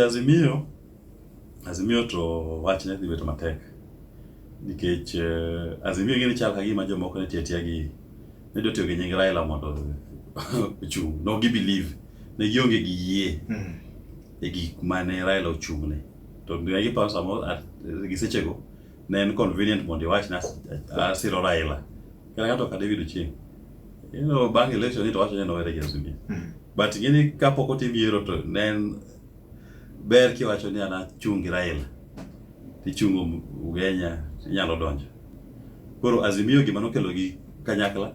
Azimio Azimio to wach ne dhi bedo matek nikech uh, Azimio ing'e ni chal ka gima jomoko ne tiatia gi ne dwa tiyo gi nying Raila mondo ochung' no gi believe ne gionge gi yie mm. e gik mane Raila ochung'ne to ne giparo samoro gi sechego ne en convenient mondo iwach na asiro Raila Kata ng'ato kaka David Ochieng'. You know, bang' election ni to wacho ni nowere gi Azimio. Mm. But ing'eni kapok otim yiero to ne en ber kiwacho ni an achung' gi Raila. Tichungo Ugenya inyalo donjo. Koro Azimio gima nokelo gi kanyakla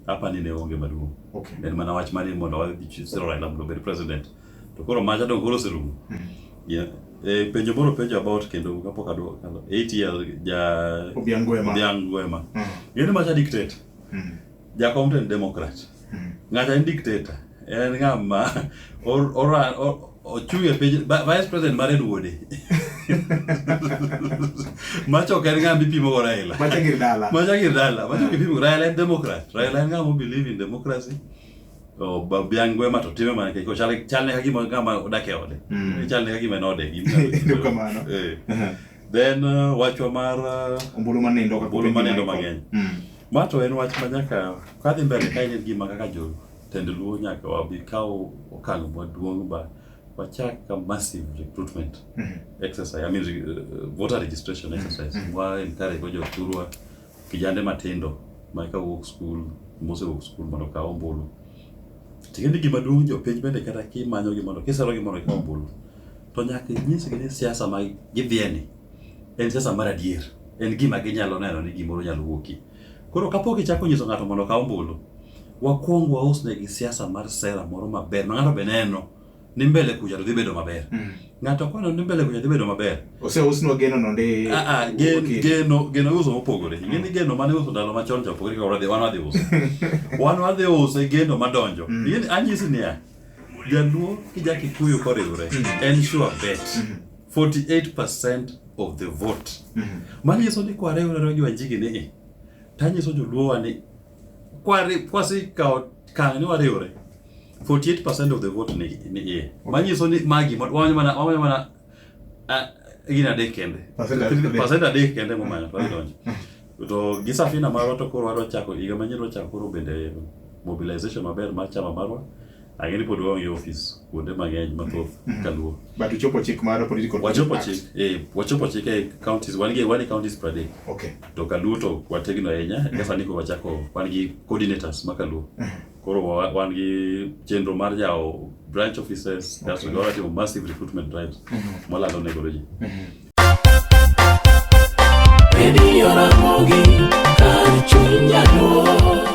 apa ni ne onge maduong'. Okay. En mana wach mani mondo wadhi siro Raila mondo obed president. To koro macha dong koro oserumo. Hmm. Yeah. E, penjo moro penjo about kendo kapok adwoko kalo. Eight years ja Obiang Gwema. Obiang Gwema. Hmm. Ng'eni macha dictate. Hmm. Jakom to en Democrat. Hmm. Ng'acha en dictator. En ng'ama or, or, or, ochung' e piny vice president mar en wuode macha ok en ng'a mipimo go Raila macha gir dala macha gir dala macha ok ipimo Raila en democrat Raila en ng'a mo believe in democracy Oh, babu yangu ema to time mana kiko chale chale kaki mo kama odake ode mm. chale kaki mena ode gin ndio kama no eh then uh, wachwa mar uh, ombulu mane ndo kakuru ombulu mane ndo mangeny mm. mato en wach manyaka kadhi mbele kai ne gima kaka jo tend luo nyaka wabi kawo okang' maduong' ba wachak a massive recruitment mm -hmm. exercise i mean uh, voter registration exercise mm -hmm. wa encourage jo thurwa Kijande matindo ma ka wuok skul, mosewuok skul mondo okaw ombulu. Ting'e ni gima duong' jopiny bende kata kimanyo gimoro, kisero gimoro ikaw ombulu. To nyaka inyisgi ni siasa ma gidhiyeni en siasa mar adier. En gima ginyalo neno ni gimoro nyalo wuokie. Koro kapok ichako nyiso ng'ato mondo okaw ombulu, wakwong wausnegi siasa mar sera moro maber ma ng'ano be neno. ni mbele kucha to dhi bedo maber. Mm. Ng'ato kwano ni mbele kucha dhi bedo maber. Ose usno geno no ndi. Ah ah gen, okay. geno geno uso mopogore. Mm. Ngeni geno mane uso ndalo machon cha pogore ka wadhi wan wadhi uso. wan wadhi uso e geno madonjo. Mm. Ngeni anyisi niya. Jaluo kija kikuyu koriwre. Mm. En sure bet. Mm. 48% of the vote. Mm. Manyiso ni kware urero gi wanjigi ni. Tanyiso joluo wa ni kwasekawo kang' ni wariwre 48 percent of the vote ni ni iye manyiso ni magi ma- wamanyo mana wamanyo mana ah, gin adek kende Percent adek. percent adek kende momanyo to wadonjo to gi safina marwa to koro wadwa chako higa manyien wadwa chako koro bende mobilization maber mar chama marwa Ang'e ni pod waonge ofis kuonde mang'eny mathoth mm-hmm. kaluo. But uchopo chik mar political wachopo chik eh, wachopo chik e counties wan gi wan counties per day. Okay. To kaluo to wategno ahinya mm-hmm. kasa ni ko wachako wan gi coordinators ma kaluo. Mm-hmm. Koro wan gi chenro mar jawo branch offices okay. kaso watimo massive recruitment drives mwalando ne goroji. Radio Ramogi, Kar Chunya Dwong.